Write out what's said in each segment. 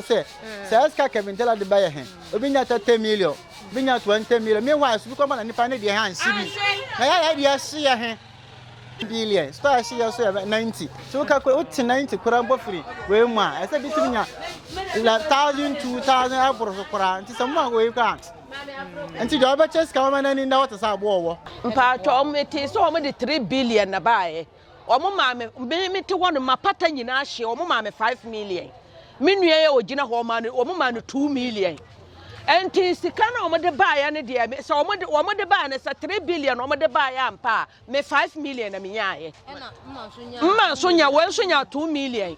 sɛ saa sika kevin tela de bɛyɛ he obi nya thirty million obi nya twenty million meanwhile so bi kɔma na nipa ne deɛ he ansi bi na yɛ ayɛ deɛ ɛhyeɛ he billion so ɛhyeɛ so yɛ ninety so woka kora wote ninety kora mpo firi wei mu a ɛsɛ bi tumi nya la thousand two thousand ɛboro so koraa nti sɛ mo a wei koraa nti deɛ ɔbɛkyɛ sika wɔma no ani nda wɔte sɛ aboɔ wɔ mpaatwa ɔmo te sɛ ɔmo de three billion na baayɛ wɔn maa me me me te hɔ no mapata nyinaa hyeɛ wɔn maa me five million me nua yɛ ogyina hɔ ɔmaa no wɔn maa no two million ɛnti sika na wɔn de baayɛ no deɛ sɛ wɔn de wɔn de baayɛ no sɛ three billion wɔn de baayɛ ampa a me five million na me nyaayɛ mma nso nya wɔn nso nya two million.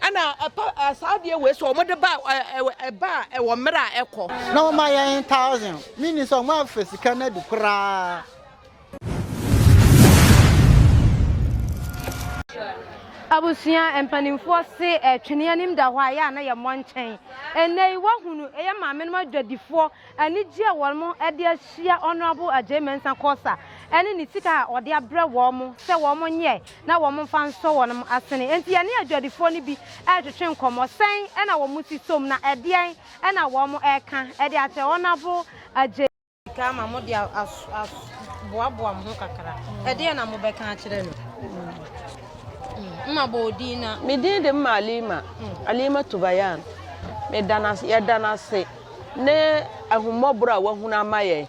ɛna ɛpa saa adeɛ wei so wɔn de ba ɛba a ɛwɔ mmerɛ a ɛkɔ. na wɔn ma yɛn thousand mi ni sɛ wɔn afɛ sika no adi koraa. abusua mpanimfoɔ se ɛtwene anim da hɔ a yɛ a na yɛmmɔ nkyɛn ɛnɛ yi wahunu ɛyɛ maame nom adwadifoɔ Anigye a wɔde ahyia Honourable Agyei Mensah Korsah ne ne sika a ɔde abrɛ wɔn sɛ wɔnyɛ na wɔmfa nsɔ wɔn asene nti, yɛne adwadifoɔ no bi retwetwe nkɔmmɔ. Sɛn na wɔn si som na ɛdeɛn na wɔreka de akyerɛ Honourable Agyei? Sika ama mo de aboaboa mo ho kakra, ɛdeɛn na mobɛka akyerɛ no? Mma bɔ wo din na. Me din de Mma Alima, Alimatu Bayan. Meda no ase, yɛda no ase. ne ahummɔborɔ a wahunu ama yɛn.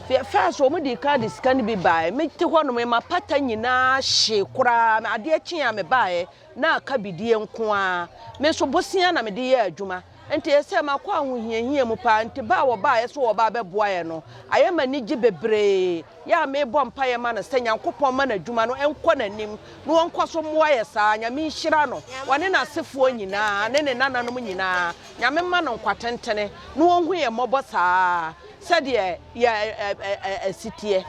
First, wɔn de kan de sika no bi baeɛ. Mete hɔ nom, mapata nyinaa hye koraa. Adeɛ kye a mebaeɛ na aka bidie nko ara. Me nso bosea na mede yɛ adwuma. Nti ɛsɛ makɔ ahohiahia mu paa. Nti ba a wɔbaeɛ sɛ wɔba abɛboa yɛn no, ayɛ ma ani gye bebree. Yɛ a mebɔ mpaeɛ ma no sɛ Nyankopɔn mma n'adwuma no nkɔ n'anim na wɔnkɔ so mmoa yɛn saa. Nyame nhyira no, ɔne n'asefoɔ nyinaa ne ne nananom nyinaa. Nyame mma no nkwa tentene na ɔnhu yɛn mmɔbɔ saa sɛdeɛ yɛ si teɛ.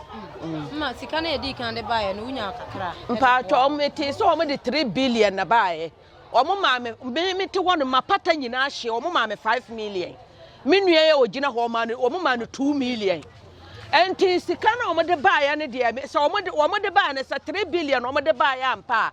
Ma sika no yɛdii kan de baeɛ no wonya kakra. Mpaatɔ metee sɛ wɔn de three billion na baeɛ. Wɔn maa me me mete hɔ no ma pata nyinaa hyeɛ wɔn maa me five million. Me nua yɛ ogyina hɔ ɔmaa no wɔn maa no two million. Nti sika na wɔn de baeɛ no deɛ sɛ wɔn de wɔn de baeɛ no sɛ three billion wɔn de baeɛ ampa a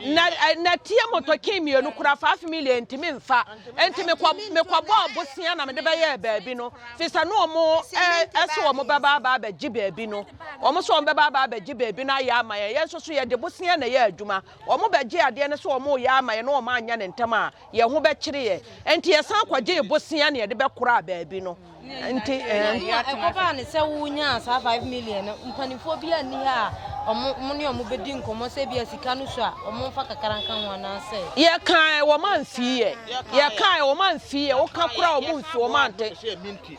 na na tie motɔkin mmienu kora five million ntumi nfa nti mekɔ mekɔ bɔɔ bosia na mede bɛyɛɛ baabi no fi sɛ no ɔmo ɛso ɔmo bɛba aba abɛgye baabi no ɔmo so ɔmo bɛba aba abɛgye baabi no ayɛ ama yɛn yɛn nso so yɛde bosia na ɛyɛ adwuma ɔmo bɛgye adeɛ no so ɔmo yɛ ama yɛn na ɔmo anya ne ntɛm a yɛn ho bɛkyere yɛn. Enti yɛsan kɔgyee bosea na yɛde bɛkoraa baabi no. Nti ɛɛ. Ɛkɔbaa ne sɛ wonyaa saa five million no, mpanimfoɔ bi anni ha a wɔn ne wɔn bɛdi nkɔmmɔ sɛ ebi a sika no so a wɔmfa kakra nka ho anaasɛ. Yɛkae wɔn amfii yɛ. Yɛkae wɔn amfii yɛ. Woka koraa wɔn mfii wɔn ante.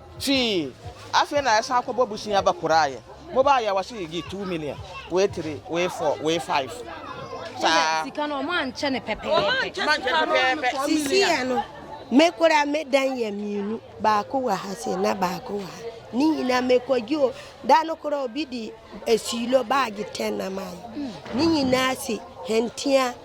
Fii. Afei na yɛsan kɔbɔ bosea ba koraa yɛ. Mobaa yɛ wɔse yɛgye two million, wei three, wei four, wei five. Saa. Sika no ɔmo ankyɛ no pɛpɛɛpɛ. Ɔmo ankyɛ no pɛpɛɛpɛ. Sisi yɛ no, me koraa me dan yɛ mmienu, baako wɔ ha sei na baako wɔ ha. Ne nyinaa me kɔ gye o. Da no koraa obi de asiilo baage ten na mayɛ. Ne nyinaa se hɛntea.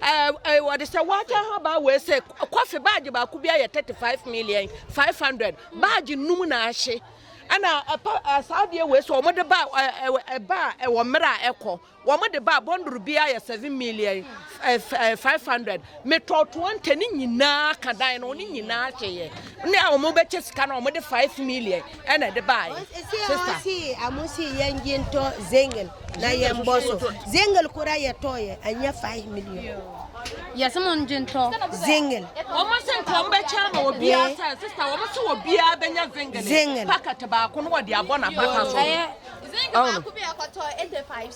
Ɛɛ wɔde sɛ wɔakyɛ ha baa wei sɛ kɔfe baagye baako bi ayɛ thirty five million five hundred baagye num na ahye ɛna ɛpa saa adeɛ wei sɛ wɔde ba ɛba a ɛwɔ mmerɛ a ɛkɔ wɔde ba bɔndoro bi ayɛ seven million five hundred metɔ twenty ne nyinaa ka dan no ne nyinaa hyɛ yɛ ne a wɔbɛkyɛ sika no wɔde five million ɛna ɛde baeɛ sista. si amo si yɛn gye ntɔ zengel na yɛn bɔ so zengel kora yɛ tɔ yɛ anyɛ five million. yɛsɛ mo ngye ntɔ zengel. wɔn se nka wɔn bɛkyɛ ama wɔ biara sɛ sista wɔn se wɔ biara bɛnya zengel packet baako no wɔde abɔ na pata so. ɛyɛ zengel baako bi ɛkɔtɔ eighty five.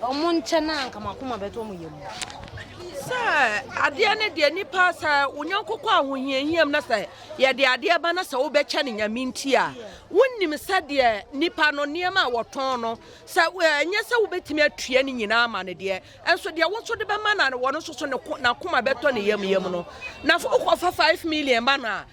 Wɔn nkyɛn a nka m'akoma bɛtɔ wɔn yam. Sɛ adeɛ ne deɛ nipa sɛ onyanko kɔ ahohiahiam na sɛ yɛde adeɛ ba na sɛ wobɛkyɛ ne nyame nti a wonim sɛ deɛ nipa no nneɛma a wɔtɔn no sɛ ɛnyɛ sɛ wobɛtumi atua ne nyinaa ama no deɛ ɛnso deɛ wo nso de bɛma na wɔn nso so n'akoma bɛtɔ ne yam yam no na fo kɔfa five million ma no a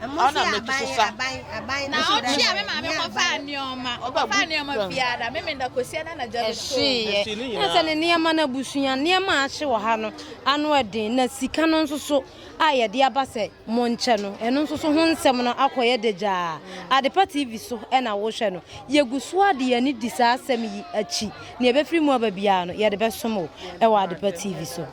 Ɛmo nso yɛ aban yɛ aban aban. Na ɔtwe a me maame kɔfa nneɛma ɔkɔfa nneɛma biara me menda kosua na anadwo de so. Ɛhyeeɛ na sɛ ne nneɛma no abusua nneɛma a ahye wɔ ha no ano ɛden na sika no nso so a yɛde aba sɛ monkyɛ no ɛno nso so ho nsɛm no akɔyɛ dagyaa Adepa TV so ɛna wohwɛ no yɛgu so a de yɛn ani di saa asɛm yi akyi nea ɛbɛfiri mu aba biara no yɛde bɛsom wo ɛwɔ Adepa TV so.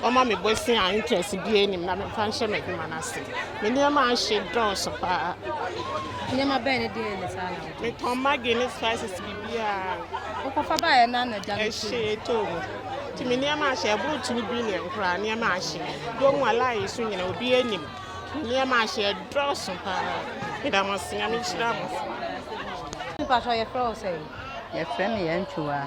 wɔma me bosea a interest biara nnim na memfa nhyɛ m'adwuma no ase. Me nneɛma ahye dɔɔso paa. Nneɛma bɛn ne deɛ ne saa na wotɔ? Metɔn Maggi ne spices biribiara. Wokɔfa baeɛ no ana gya no Ɛhye ɛtɔɔ mu. Nti me nneɛma ahye ɛboro two billion koraa nneɛma ahye. Dɔm a line so nyina obi anim. Nneɛma ahye ɛdɔɔso paa. Meda mo ase Nyame nhyira mo. Mpakyɛ yɛfrɛ wo sɛn? Yɛfrɛ me Yantuwa.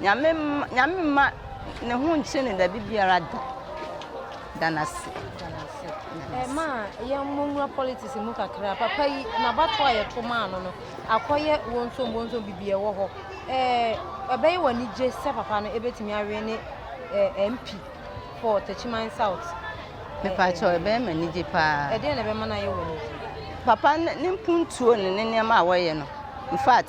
Nyame mma Nyame mma ne ho nkye no da bibiara da. Da no ase. Da no ase. Eh, ma yɛmmɔ nwura politics mu kakra. Papa yi, n'abato a yɛto maa no no, akɔyɛ wonsom wonsom bibi ɛwɔ hɔ. Eh, ɛbɛyɛ wɔ anigye sɛ papa no ebetumi awe ne eh, MP for Techiman South. Mepa kyɛw, ɛbɛyɛ ma anigye paa. Ɛdeɛ na ɛbɛma no ayɛ wɔ anigye. Papa ne mpuntuo ne ne nneɛma a wɔyɛ no. In fact,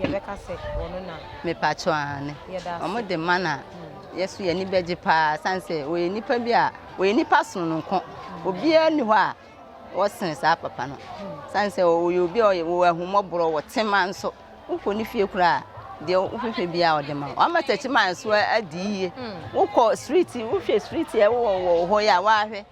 yɛbɛka sɛ ɔno na. Mepatwo aane. Wɔn de mana yɛ so yɛ ani bɛgye paa san sɛ wɔyɛ nipa bi a wɔyɛ nipa sononko obiara ni hɔ a wɔsene saa papa no san sɛ wɔyɛ obi a ɔyɛ wɔwɔ ahummɔborɔ wɔ tema nso wokɔ ne fie koraa deɛ wofɛfɛ bi a ɔde ma wɔn ama tɛkyi maa nso adi yie wokɔ street wohwɛ street a ɛwɔ wɔ hɔ yɛ a wɔahwɛ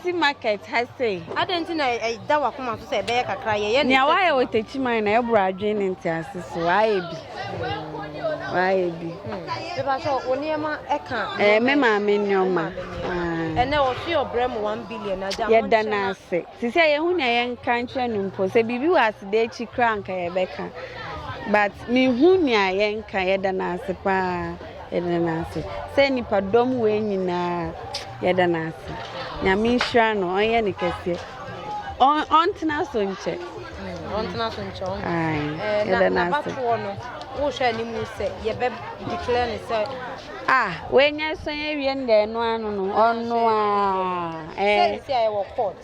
Ɔsi market ha sei. Adɛn nti na ɛda w'akoma so sɛ ɛbɛyɛ kakra yɛyɛ ne Nea wayɛ wɔ takyiman na ɛboro adwene ne ntease so. Wayɛ bi. Wayɛ bi. Bɛba sɛ wo nneɛma ɛka. Ɛɛ me maame nneɛma. Ɛnɛ ɔsi ɔbrɛ mu one billion agya. Yɛda n'ase. Te sɛ yɛn ho nea yɛn nka nkyerɛ no mpo sɛ biribi wɔ aseda akyi koraa nka yɛbɛka but mehu nea yɛn nka yɛda n'ase paa. Yɛda no ase sɛ nnipa dɔm wei nyinaa yɛda no ase nyame nhyira no ɔnyɛ ne kɛseɛ ɔntena so nkyɛ mm, ɔntena so nkyɛ eh, yɛda no ase wohwɛ anim sɛ yɛbɛ declare ne sɛ ah wɔanya sɔn awie no dɛ ɛno ano no ɔno a ɛɛ sɛ ɛwɔ court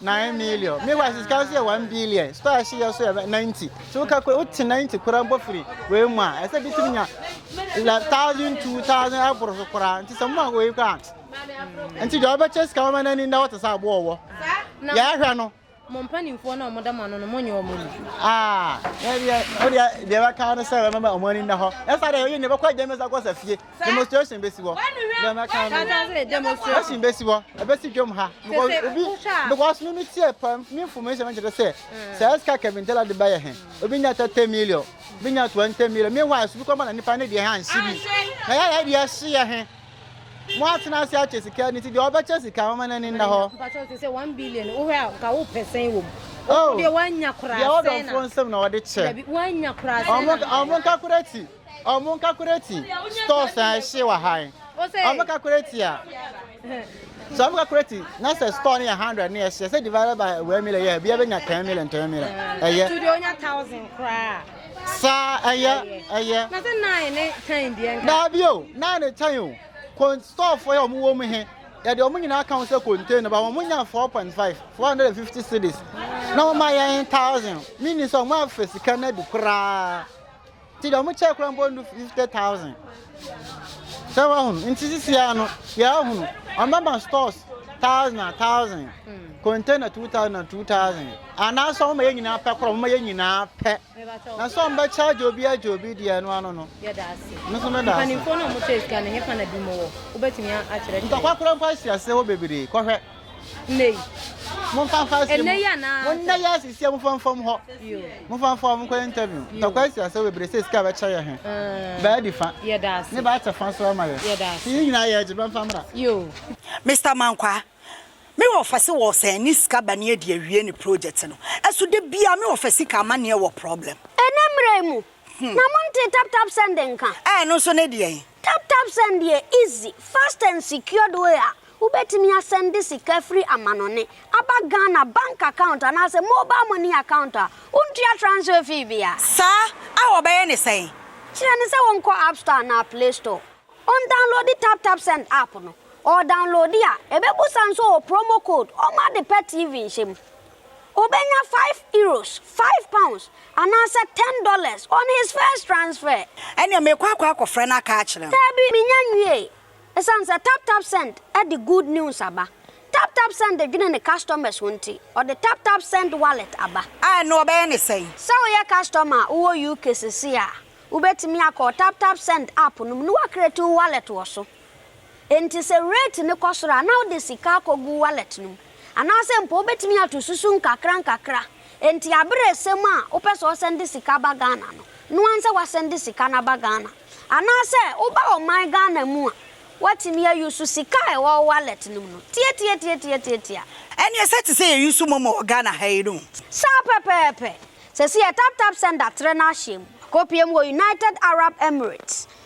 Nine million. Me wa sika nso yɛ one billion. Store ɛhye yɛ nso yɛ ninety. So woka kura wote ninety kura mpo firi wei mu a ɛsɛ bi tumi nya la thousand two thousand ɛboro so kura nti sɛ mo a wei kura nti deɛ ɔbɛkyɛ sika wɔn n'ani nda wɔte sɛ aboɔ wɔ yɛahwɛ no. mo mpanimfoɔ na wɔn da mo ano no mo nyɛ wɔn mu. aa ɛdeɛ ɛdeɛ deɛ bɛka no sɛ wɔn ani nda hɔ ɛsa deɛ yɛ ne bɛkɔ agya mi sa kɔ sa fie. demonstration bɛsi hɔ na mɛka no demonstration bɛsi hɔ ɛbɛsi dwam ha obi because me meteɛ pa me information no kyerɛ sɛ sɛ ɛsika kevin tela de bɛyɛ he obi nya 30 million bi nya 20 million me wise bi kɔma na nipa ne deɛ ha nsi bi na yɛ yɛ deɛ si yɛ he mo atena ase akyɛ sika ne ti deɛ ɔbɛkyɛ sika mama no ani nna hɔ sɛ 1 billion wohwɛ a ka wo pɛsɛn wɔ mu oh. deɛ woanya koraa sɛ na deɛ ɔdɔfoɔ nsɛm na ɔde kyɛ ɔmo nka koraa ti Ɔmo nka koreti stores a ɛhye wɔ ha yi. Ɔmo ka koreti a. Sɛ ɔmo ka koreti na sɛ store no yɛ hundred ne ɛhye sɛ divided by wɛn million yɛ ebi ɛbɛnya ten million ten million. Ɛyɛ. Ɛtu de onya thousand koraa. Saa ɛyɛ ɛyɛ. Na sɛ nine ne ten deɛ nka. Daabi o nine ne ten o. Kon store fo yɛ ɔmo wɔ mu he. Yɛde ɔmo nyinaa ka ho sɛ container ba ɔmo nya four point five four hundred and fifty cedis. Na ɔmo ayɛ thousand. Mini sɛ ɔmo afɛ sika no adi koraa. Nti deɛ wɔkyɛɛ koraa mpo ndu fifty thousand sɛ wahunu nti sisi ara no yɛahunu wɔbɛma stores thousand a thousand container two thousand a two thousand anaasɛ wɔma yɛ nyinaa pɛ korɔ wɔma yɛ nyinaa pɛ na sɛ wɔbɛkyɛ agye obi agye obi deɛ ɛno ano no nso meda ase ntɔkwa koraa mpo asi ase hɔ bebree kɔhwɛ Nnɛ yi. Momfa mfa ase mu. Nnɛ yi anaa? Mo nnɛ yi asisi a momfa mfam hɔ. Momfa mfa wɔn nkɔ interview. Ntɔkwa asi asɛm bebree sɛ sika bɛkyɛ yɛ he. Eh. Baa di fa. Yɛda ase. Ne baa kyɛ fa nso ama yɛ. Yɛda ase. Yɛn nyinaa yɛ agye bɛmfa mmra. Yoo. Mister Mankwaa, me wɔfa se wɔsɛn ne sika ba ne adi awie ne project no. Ɛso da biaa me wɔfa sika ama neɛ wɔ problem. Ɛnɛ mmra yi mu, Na montee tap tap send nka? Ɛɛ ɛno nso ne deɛn? Tap tap send yɛ easy, fast and secured way a wobɛtumi asɛnde sika firi amanɔne aba Ghana bank account anaasɛ mobile money account a wontua transfer fee biara. Saa a wɔbɛyɛ ne sɛn? Kyerɛ no sɛ wɔnkɔ app store anaa play store, ɔndownloadi tap tap send app no, ɔɔdownloadi a ɛbɛbusa nso ɔwɔ promo code ɔma ade pa TV nhyɛ mu. Obenya five euros, five pounds, anaasɛ ten dollars on his first transfer. Ɛnneɛ mekɔ akɔ akɔfrɛ no aka akyerɛ no. Daabi, mennya nwiei. Esiane sɛ TapTapSend de good news aba, TapTapSend dwene ne customers ho nti, ɔde TapTapSend Wallet aba. A, ɛnneɛ wɔbɛyɛ no sɛn? Sɛ woyɛ customer a wowɔ UK seesei a, wobɛtumi akɔ TapTapSend app no mu na woacreate wo wallet wɔ so. Enti sɛ rate no kɔ soro a, na wode sika akɔgu wallet no mu. Anaasɛ mpo wobɛtumi ato susu nkakrankakra. Enti aberɛ resɛm a wopɛ sɛ ɔsɛnde sika ba Ghana no, noa nsɛ wasɛnde sika no aba Ghana. Anaasɛ woba ɔman Ghana mu a, woatumi a use sika a ɛwɔ wo wallet no mu no. Tiatiatiatiatiatia. Ɛneɛ sɛ te sɛ yɛ use momo wɔ Ghana ha yi no. Saa pɛpɛɛpɛ. Sɛsi yɛ taptapsend atrɛ no ahyɛm. Akɔpie mu wɔ United Arab Emirates.